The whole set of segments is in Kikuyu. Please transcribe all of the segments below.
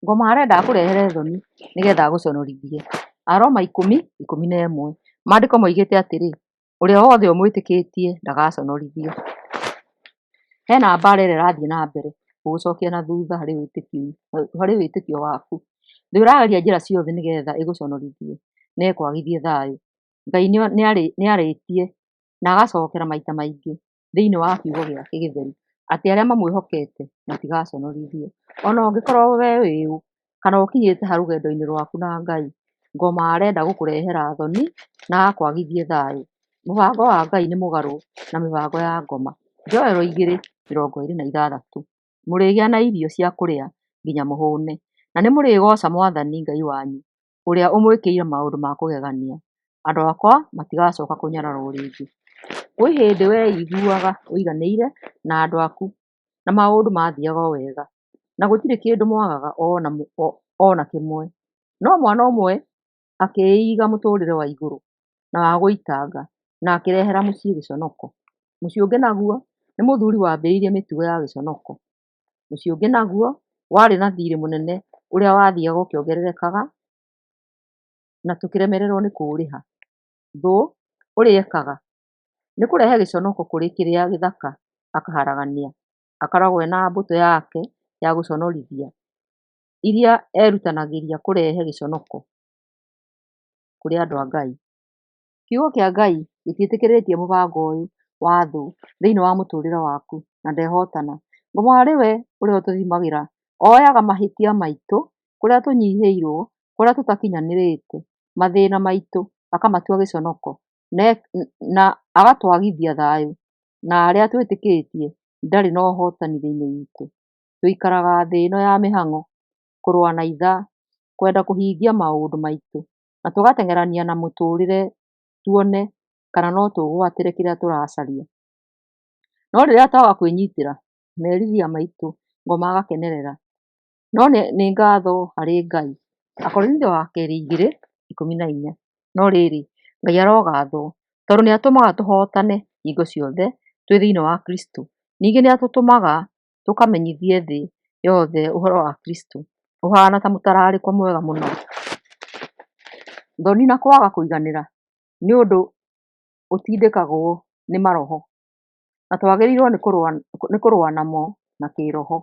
Ngoma arenda akũrehere thoni nĩgetha agũconorithie. Aroma ikũmi, ikũmi na ĩmwe. Maandĩko moigĩte atĩrĩ, ũrĩa wothe ũmwĩtĩkĩtie ndagaconorithio. Hena mbara ĩrĩa ĩrathiĩ na mbere gũgũcokia na thutha harĩ wĩtĩkio, harĩ wĩtĩkio waku. Thũ ĩrageria njĩra ciothe nĩgetha ĩgũconorithie na ĩkwagithie thayũ. Ngai nĩarĩtie na agacokera maita maingĩ. thĩinĩ wa kiugo gĩake gĩtheru, atĩ arĩa mamwĩhokete matigaconorithio. Ona ũngĩkorwo we wĩ ũ, kana ũkinyĩte ha rũgendo-inĩ rwaku na Ngai, ngoma arenda gũkũrehera thoni, na akwagithie thayũ. Mũbango wa Ngai nĩ mũgarũ na mĩbango ya ngoma. Joel igĩrĩ mĩrongo ĩrĩ na ithathatũ, Mũrĩgĩa na irio cia kũrĩa nginya mũhũne, na nĩ mũrĩgooca Mwathani Ngai wanyu ũrĩa ũmwĩkĩire maũndũ ma kũgegania, andũ akwa matigacoka kũnyararwo rĩngĩ. Kwĩ hĩndĩ weiguaga ũiganĩire na andũ aku, na maũndũ mathiaga o wega, na gũtirĩ kĩndũ mwagaga ona kĩmwe. No mwana ũmwe akĩiga mũtũrĩre wa igũrũ na wa gũitanga na akĩrehera mũciĩ gĩconoko. Mũciĩ ũngĩ naguo nĩ mũthuri wambĩrĩirie mĩtugo ya gĩconoko. Mũciĩ ũngĩ naguo warĩ na thirĩ mũnene ũrĩa wathiaga ũkĩongererekaga na tũkĩremererwo nĩ kũũrĩha. Thũ ũrĩa ekaga nĩ kũrehe gĩconoko kũrĩ kĩrĩa gĩthaka akaharagania. Akoragwo ena mbũtũ yake ya gũconorithia iria erutanagĩria kũrehe gĩconoko kũrĩ andũ a Ngai. Kiugo kĩa Ngai gĩtiĩtĩkĩrĩtie mũbango ũyũ wa thũ thĩinĩ wa mũtũrĩre waku na ndehotana. Ngoma arĩ we ũrĩa ũtũthimagĩra, oyaga mahĩtia maitũ, kũrĩa tũnyihĩirwo, kũrĩa tũtakinyanĩrĩte, mathĩna maitũ akamatua gĩconoko na agatwagithia thayũ na arĩa twĩtĩkĩtie ndarĩ na ũhotani thĩinĩ witũ. Tũikaraga thĩ ĩno ya mĩhang'o, kũrũa na ithaa, kwenda kũhingia maũndũ maitũ na tũgateng'erania na mũtũrĩre tuone kana no tũgwatĩre kĩrĩa tũracaria. No rĩrĩa twaga kwĩnyitĩra, merirĩria maitũ ngo magakenerera. No nĩ nĩ ngatho harĩ Ngai. Akorinitho wa kerĩ igĩrĩ ikũmi na inya. No rĩrĩ, Ngai arogathwo, tondũ nĩ atũmaga tũhotane hingo ciothe twĩ thĩiniĩ wa Kristũ. Ningĩ nĩ atũtũmaga tũkamenyithie thĩ yothe ũhoro wa Kristo. Ũhaana ta mũtararĩko mwega mũno. Thoni na kwaga kũiganĩra nĩ ũndũ ũtindĩkagwo nĩ maroho, na twagĩrĩirwo nĩ kũrũa namo na kĩĩroho.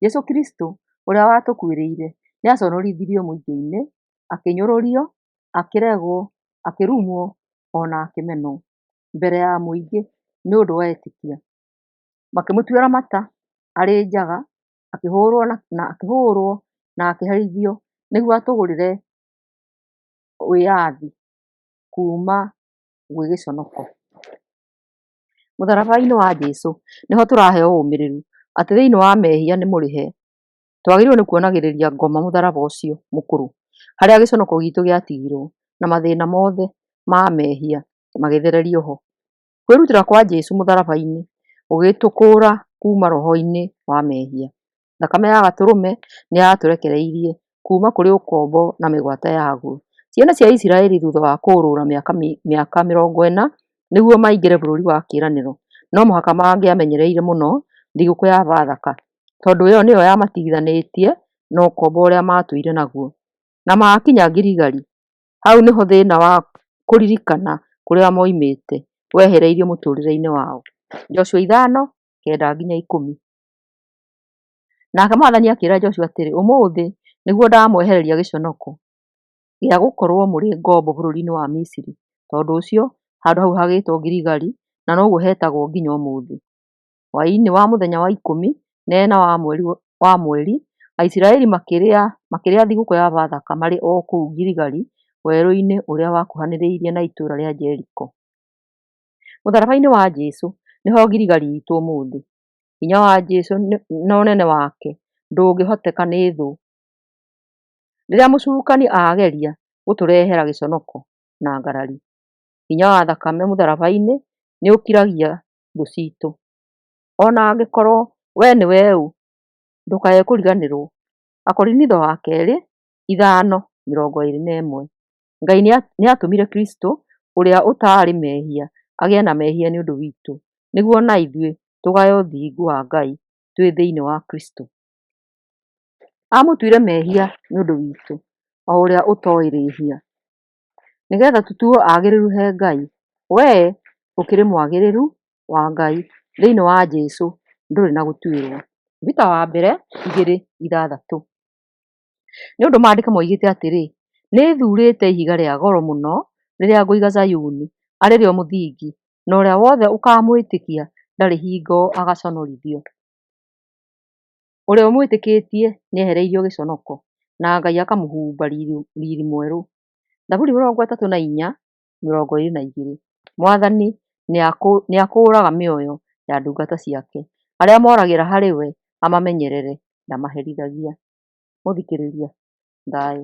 Jesũ Kristo ũrĩa watũkuĩrĩire nĩ aconorithirio mũtĩ-inĩ, akĩnyũrũrio, akĩregwo, akĩrumwo ona akĩmenwo mbere ya mũingĩ nĩ ũndũ wa etĩkia. makĩmũtuĩra mata arĩ njaga, akĩhũrwo na akĩhũrwo na akĩherithio nĩguo atũgũrĩre wĩyathi kuma gwĩ gĩconoko. Mũtharaba-inĩ wa Jesũ nĩho tũraheo ũmĩrĩru atĩ thĩiniĩ wa mehia nĩ mũrĩhe. Twagĩrĩirwo nĩ kuonagĩrĩria ngoma mũtharaba ũcio mũkũrũ harĩa gĩconoko gitũ gĩatigirwo na mathĩna mothe ma mehia magĩthererio ho. Kwĩrutĩra kwa Jesu mũtharaba-inĩ gũgĩtũkũũra kuuma roho-inĩ wa mehia. Thakame ya Gatũrũme nĩ yatũrekereirie kuuma kũrĩ ũkombo na mĩgwate yaguo. Ciana cia Isiraeli thutha wa kũũrũra mĩaka, mĩaka mĩrongo ĩna nĩguo maingĩre bũrũri wa kĩĩranĩro, no mũhaka mangĩamenyereire mũno thigũkũ ya Bathaka, tondũ ĩyo nĩyo yamatigithanĩtie na ũkombo ũrĩa maatũire naguo. Na maakinya Girigari, Hau nĩho thĩna wa kũririkana kũrĩa moimĩte wehereirio mũtũrĩre-inĩ wao. Joshua ithano, kenda nginya ikũmi. Nake mwathani akĩra Joshua atĩrĩ, ũmũthĩ nĩguo ndamwehereria gĩconoko gĩa gũkorwo mũrĩ ngombo bũrũri-inĩ wa Misiri. Tondũ ũcio handũ hau hagĩtwo Giligari, na noguo hetagwo nginya ũmũthĩ. Hwaĩ-inĩ wa mũthenya wa ikũmi na ĩna wa mweri, Aisiraeli makĩrĩa thigũkũ ya Bathaka marĩ o kũu Giligali werũ-inĩ ũrĩa wakuhanĩrĩirie na itũũra rĩa Jeriko. Mũtharaba-inĩ wa Jesu nĩho Giligali itũ ũmũthĩ. Hinya wa Jesu na ũnene wake ndũngĩhoteka nĩ thũ. Rĩrĩa mũcukani ageria gũtũrehera gĩconoko na ngarari, hinya wa thakame mũtharaba-inĩ nĩ ũkiragia thũ citũ. Ona angĩkorwo we nĩwe ũũ, ndũkae kũriganĩrwo. Akorinitho wa kerĩ ithano mĩrongo ĩrĩ na ĩmwe. Ngai nĩatũmire Kristũ ũrĩa ũtaarĩ mehia agĩe na mehia nĩ ũndũ witũ, nĩguo ona ithuĩ tũgae ũthingu wa Ngai twĩ thĩinĩ wa Kristũ. Amũtuire mehia nĩ ũndũ witũ, o ũrĩa ũtoĩ rĩhia. nĩgetha tũtuo agĩrĩru he Ngai. We ũkĩrĩ mwagĩrĩru wa Ngai thĩinĩ wa Jesũ ndũrĩ na gũtuĩrwo. Peter wa mbere igĩrĩ ithathatũ. Nĩ ũndũ maandĩko maugĩte atĩrĩ, nĩ thurĩte ihiga rĩa goro mũno rĩrĩa ngũiga Zayuni arĩ rĩo mũthingi, na ũrĩa wothe ũkamwĩtĩkia ndarĩ hingo agaconorithio. Ũrĩa ũmwĩtĩkĩtie nĩ ehereirio gĩconoko, na Ngai akamũhumba riri mwerũ. Thaburi mĩrongo ĩtatũ na inya, mĩrongo ĩrĩ na igĩrĩ. Mwathani nĩ akũũraga mĩoyo ya ndungata ciake, arĩa moragĩra harĩ we amamenyerere, ndamaherithagia. Mũthikĩrĩria, thayũ.